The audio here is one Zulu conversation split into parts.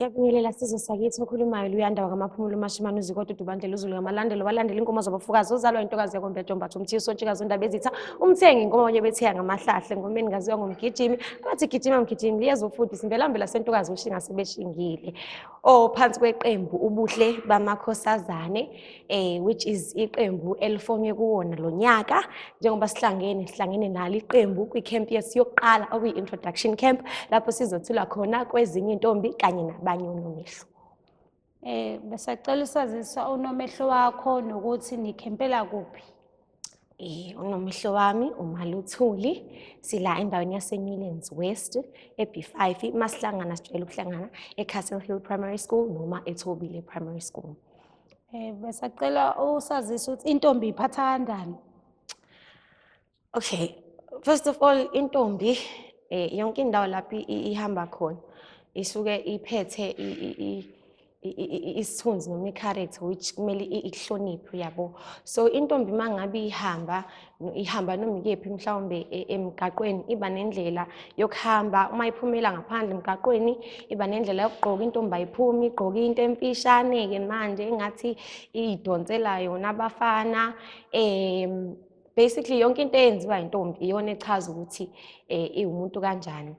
Yakuyelela sizwe sakithi okhulumayo luyanda wakamaphumulo umashimane uzikode udubandlela uzulu ngamalandelo walandela inkomo zabafukazi ozalwa intokazi yakombe jombatha umthiya usontshikazi undaba ezitha umthengi inkomo abanye bethiya ngamahlahle ngomeni ngaziwa ngomgijimi abathi gijima mgijimi liyeza ufundisa imbelambela sentokazi ushinga sebeshingile ophansi kweqembu ubuhle bamakhosazane eh which is iqembu elifonywe kuwona lo nyaka njengoba sihlangene sihlangene nalo iqembu kwi-camp yethu yokuqala okuyi-introduction camp lapho sizothula khona kwezinye intombi kanye nabanye unomehlo eh besacela usazisa unomehlo wakho nokuthi nikhempela kuphi Eh unomihlo wami uMaluthuli sila endaweni yaseNewlands West eB5 masihlangana sijwayele ukuhlangana eCastle Hill Primary School noma eThobile Primary School. Eh besacela usazisa ukuthi intombi iphatha kanjani? Okay. First of all intombi eh yonke indawo lapho ihamba khona isuke iphethe isithunzi noma i-character which kumele ihloniphe uyabo so intombi uma ngabe ihamba ihamba noma ikephi mhlawumbe e, emgaqweni iba nendlela yokuhamba uma iphumela ngaphandle emgaqweni iba nendlela yokugqoka intombi ayiphumi igqoke into emfishane-ke manje engathi idonsela yona abafana um basically yonke into eyenziwa intombi iyona echaza ukuthi um iwumuntu kanjani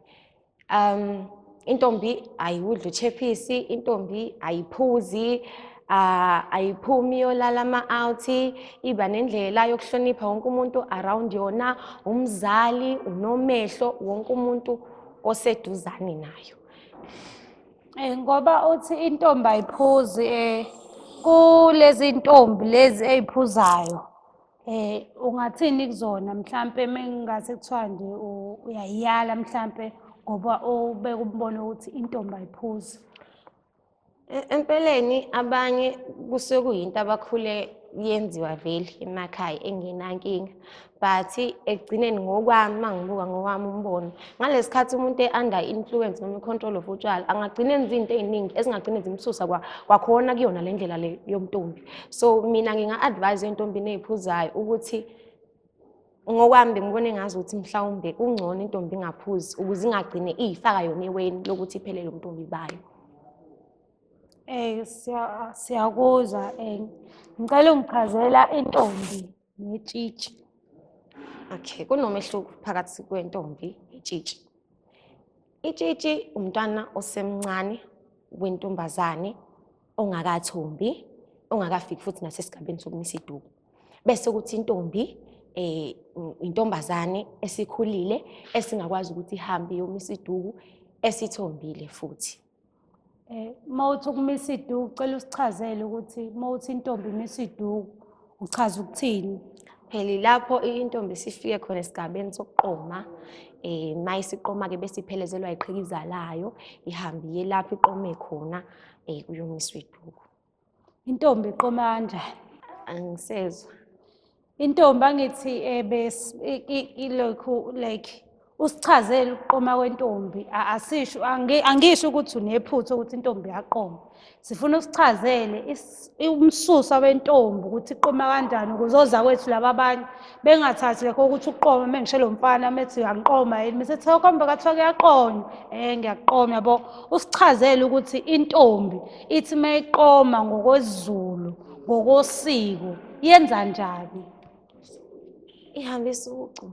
um intombi ayiwudli uchephisi intombi ayiphuzi uh, ayiphumi yolala ama-out iba nendlela yokuhlonipha wonke umuntu around yona umzali unomehlo wonke umuntu oseduzane nayo Eh ngoba uthi intombi ayiphuzi eh kulezintombi lezi eziphuzayo Eh ungathini kuzona mhlambe mengingase kuthiwa nje uyayiyala mhlambe ngoba ubeka umbono ukuthi intombi ayiphuzi. E-, empeleni abanye kusuke kuyinto abakhule yenziwa vele emakhaya engenankinga but ekugcineni ngokwami uma ngibuka ngowami umbono ngalesi khathi umuntu e-under influence noma i-control of utshwala angagcina enza izinto ey'ningi ezingagcine zimsusa kwakhona kuyona le ndlela le yomntombi so mina nginga-advise entombini ey'phuzayo ukuthi ngokwami bengibona engazi ukuthi mhlawumbe kungcono intombi ingaphuzi ukuze ingagcine iyifaka yona eweni lokuthi iphelele umntombi bayo Eh siyakuzwa eh ngicela ungichazela intombi netshitshi. Okay, kunomehluko phakathi kwentombi netshitshi. Itshitshi umntwana osemncane wentombazane ongakathombi ongakafiki futhi nasesigabeni sokumisa iduku bese ukuthi intombi eh intombazane esikhulile esingakwazi ukuthi ihambe yomisa iduku esithombile futhi eh mawuthi ukumisa iduku cela usichazele ukuthi mawuthi intombi imisa iduku Uchaza ukuthini? Phela lapho intombi sifike khona esigabeni sokuqoma eh mayisiqoma ke bese iphelezelwa iqhikiza layo ihambe iye lapho iqome khona eh kuyomiswa iduku. Intombi iqoma kanjani? Angisezwa. Intombi angithi eh, ebes ilokhu like usichazele ukuqoma kwentombi asisho angisho ukuthi unephutha ukuthi intombi yaqoma sifuna usichazele umsusa wentombi ukuthi iqoma kanjani kuzoza kwethu laba abanye bengathathi lekho ukuthi uqoma uma ngisho lo mfana methi uyangiqoma yini mise kuthiwa kombe kathiwa kuyaqonywa um ngiyaqoma yabo usichazele ukuthi intombi ithi uma iqoma ngokwezulu ngokosiko yenza njani ihambisa ucu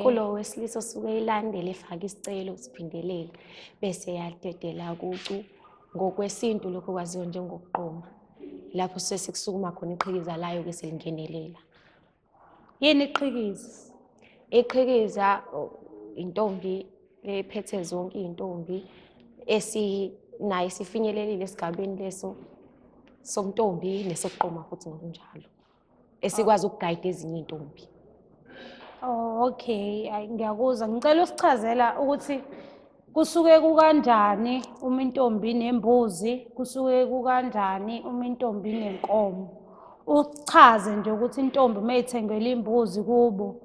kulowo wesilisa osuke ilandele efake isicelo siphindelela bese yadedela kucu ngokwesintu lokho kwaziwa njengokuqoma lapho suke sekusukuma khona iqhikiza layo-ke selingenelela yini iqhikiza iqhikiza intombi ephethe zonke iy'ntombi esinayo sifinyelelile esigabeni leso somntombi nesokuqoma futhi ngokunjalo esikwazi ukugayida ezinye iy'ntombi Oh, okay, ayi ngiyakuzwa. Ngicela usichazela ukuthi kusuke kukanjani uma intombi nembuzi, kusuke kukanjani uma intombi nenkomo. Uchaze nje ukuthi intombi uma ithengelwe imbuzi kubo,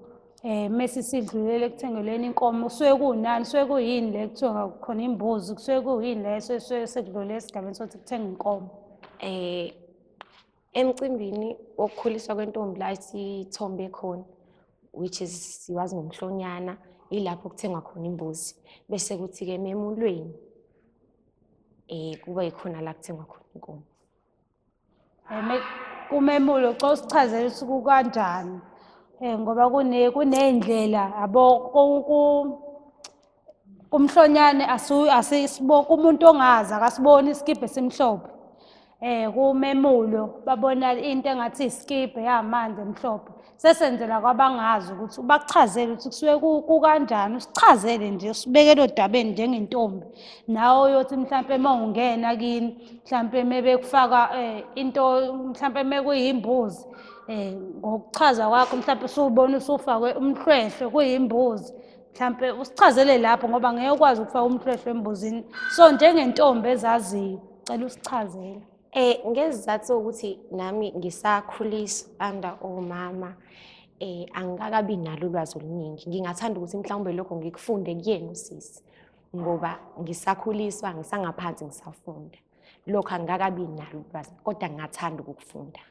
um mese isidlulele ekuthengelweni inkomo, kusuke kunani, kusuke kuyini le kuthiwa khona imbuzi, kusuke kuyini le esuke sekudlule esigabeni sokuthi kuthengwe inkomo. Eh, emcimbini wokukhuliswa kwentombi la sithombe khona which is siwazi ngomhlonyana ilapho kuthengwa khona imbuzi bese kuthi-ke memulweni um kuba yikhona la kuthengwa khona inkomo kumemulo xa usichazela ukuthi kukanjani um ngoba kuney'ndlela yabo kumhlonyane asisiboka umuntu ongazi akasiboni isikibhe esimhlophe eh kumemulo babona into engathi isikibhe yamanzi emhlophe sesenzela kwabangazi ukuthi bakuchazele ukuthi kusuke kukanjani usichazele nje usibekele odabeni njengentombi nawe uyothi mhlawumpe uma ungena kini mhlawumpe mebekufaka um eh, into mhlawumpe mekuyimbuzi um eh, ngokuchaza kwakho mhlawumpe usubona usufakwe umhlwehlwe kuyimbuzi mhlampe usichazele lapho ngoba ngeke ukwazi ukufaka umhlwehlwe embuzini so njengentombi ezaziyo cela usichazele eh ngezizathu ukuthi nami ngisakhulisa under omama eh angikakabi nalo ulwazi oluningi ngingathanda ukuthi mhlawumbe lokho ngikufunde kuyena usisi ngoba ngisakhuliswa ngisangaphansi ngisafunda lokho angikakabi nalo ulwazi kodwa ngingathanda ukukufunda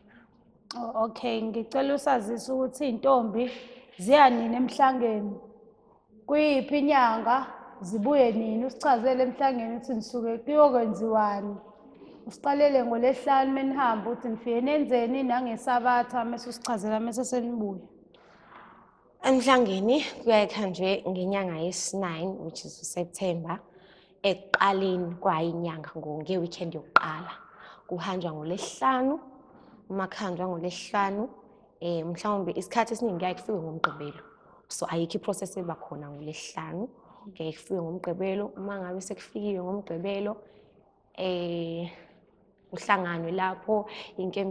oh, okay ngicela usazisa ukuthi iy'ntombi ziya nini emhlangeni kuyiphi inyanga zibuye nini usichazele emhlangeni ukuthi nisuke kuyokwenziwani usiqalele ngolesihlanu menihamba ukuthi nifike nenzeni nangesabatha mese usichazela mese senibuya Emhlangeni kuyaye kuhanjwe ngenyanga yesi-9 which is uSeptember ekuqaleni kwayo inyanga ngeweekend yokuqala kuhanjwa ngolesihlanu uma kuhanjwa ngolesihlanu eh mhlawumbe isikhathi esiningi kuyaye kufike ngomgqibelo so ayikho iprocess eba khona ngolesihlanu kuyaye kufike ngomgqibelo uma ngabe sekufikiwe ngomgqibelo eh kuhlanganwe lapho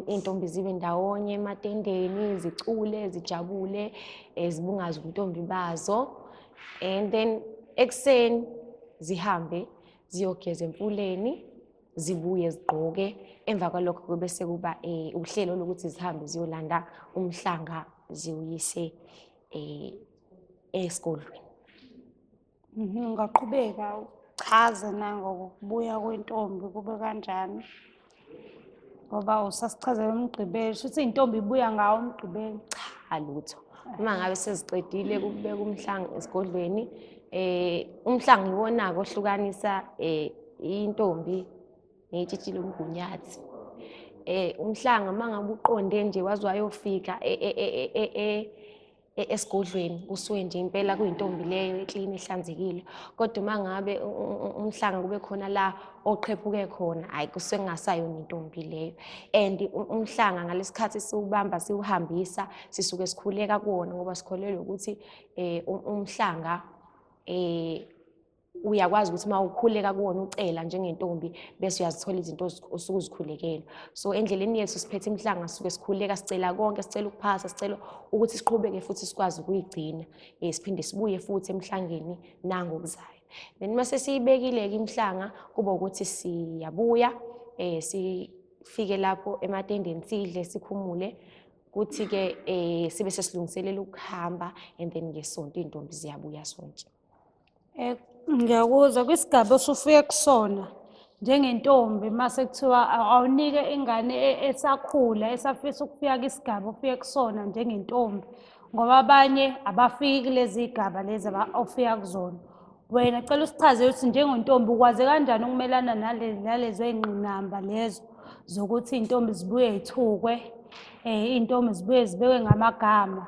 intombi zibe ndawonye ematendeni zicule zijabule eh, zibungaze ubuntombi bazo and then ekuseni zihambe ziyogeza emfuleni zibuye zigqoke emva kwalokho kube sekuba um uhlelo lokuthi zihambe ziyolanda umhlanga ziwuyise um esikolweni Ngingaqhubeka uchaze nangokubuya kwentombi kube kanjani ngoba usasichazela umgqibelo shuthi iy'ntombi ibuya ngawo umgqibelo cha lutho uma ngabe seziqedile kubeka umhlango esigodlweni eh umhlango iwona-ke ohlukanisa eh intombi neyitshitshile umgunyathi eh umhlanga mangabe uqonde nje waze wayofika e, e, e, e-, esigodlweni kusuke nje impela kuyintombi leyo eklini ehlanzekile kodwa uma ngabe umhlanga kube khona la oqhephuke khona hhayi kusuke kungasayona intombi leyo and umhlanga ngalesi khathi siwubamba siwuhambisa sisuke sikhuleka kuwona ngoba sikholelwa ukuthi um umhlanga um uyakwazi ukuthi uma ukhuleka kuwona ucela njengentombi bese uyazithola izinto osuke uzikhulekela so endleleni yethu siphethe imhlanga sisuke sikhuleka sicela konke sicela ukuphasa sicela ukuthi siqhubeke futhi sikwazi ukuyigcina um siphinde sibuye futhi emhlangeni nangokuzayo then uma sesiyibekile-ke imhlanga kuba ukuthi siyabuya um sifike lapho ematendeni sidle sikhumule kuthi-ke um sibe sesilungiselela ukuhamba and then ngesonto iy'ntombi ziyabuya sonke Eh, ngiyakuzwa kwisigaba osufike kusona njengentombi uma sekuthiwa awunike ingane e, esakhula esafisa ukufika kwisigaba ofike kusona njengentombi ngoba abanye abafiki kulezi y'gaba lezi ofika kuzona wena cela usichazele ukuthi njengontombi ukwaze kanjani ukumelana nalezo y'ngqinamba lezo zokuthi iy'ntombi zibuye y'thukwe um iy'ntombi zibuye zibekwe ngamagama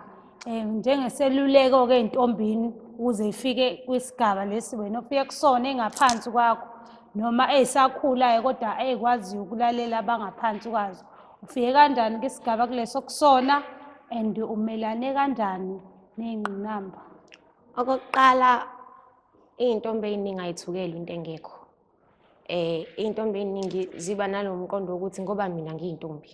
Eh, njengeseluleko-ke entombini ukuze ifike kwisigaba lesi wena ofike kusona engaphansi kwakho noma eyisakhulayo kodwa eyikwaziyo ukulalela abangaphansi kwazo ufike kanjani kwisigaba kuleso kusona and umelane kanjani ney'ngqinamba okokuqala iy'ntombi ey'ningi ayithukeli into engekho um iy'ntombi ey'ningi ziba nalo mqondo wokuthi ngoba mina ngiyintombi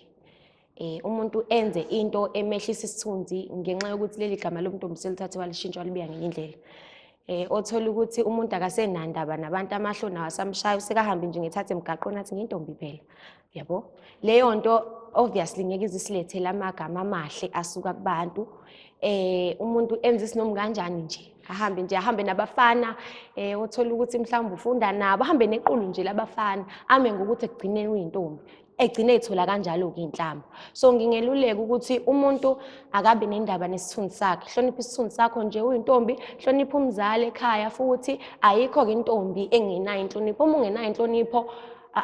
eh umuntu enze into emehlisa isithunzi ngenxa yokuthi leli gama lomntombi selithathe walishintsha walibiya ngenye indlela eh othola ukuthi umuntu akasenandaba nabantu amahlo nawo asamshaya usekahambi nje ngethathe emgaqweni athi ngintombi phela yabo leyo nto obviously ngeke izisilethele amagama amahle asuka kubantu eh umuntu enza isinomu kanjani nje ahambe nje ahambe nabafana eh othola ukuthi mhlawumbe ufunda nabo ahambe nequlu nje labafana ame ngokuthi ekugcineni uyintombi egcine ethola kanjalo-ke inhlamba so ngingeluleka ukuthi umuntu akabi nendaba nesithunzi sakhe hlonipha isithunzi sakho nje uyintombi hlonipha umzali ekhaya futhi ayikho-ke intombi engenayo inhlonipho uma ungenayo inhlonipho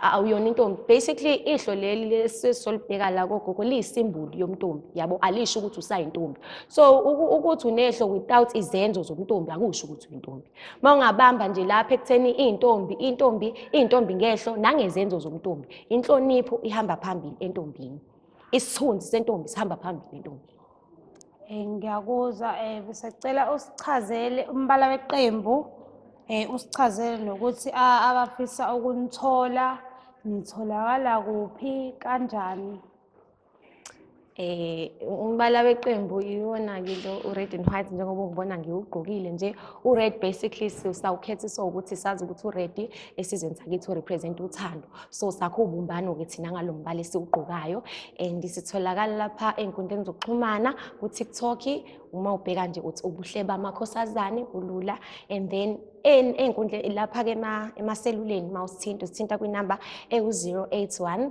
awuyona intombi basically ihlo leli lesisolibheka la kogogo liyisimbulu yomntombi yabo alisho ukuthi usayintombi so ukuthi unehlo without izenzo zomntombi akusho ukuthi uyintombi Uma ungabamba nje lapha ekutheni iy'ntombi, iy'ntombi, iy'ntombi ngehlo nangezenzo zomntombi. Inhlonipho ihamba phambili entombini. Isithunzi sentombi sihamba phambili entombini. Eh, ngiyakuzwa eh, besacela usichazele umbala weqembu eh, usichazele nokuthi a- abafisa ukunithola nitholakala kuphi kanjani eh umbala weqembu iwona-ke lo u-red and white njengoba ungibona ngiwugqokile nje u-red basically sawukhethiswa ukuthi sazi ukuthi u-red esizweni sakithi urepresent uthando so sakho ubumbano-ke thina ngalo mbala esiwugqokayo and sitholakala lapha ey'nkundleni zokuxhumana ku-tiktok uma ubheka nje uthi ubuhle bamakhosazane bulula and then ey'nkundleni lapha-ke emaseluleni uma usithinta usithinta kwinamba ewu-081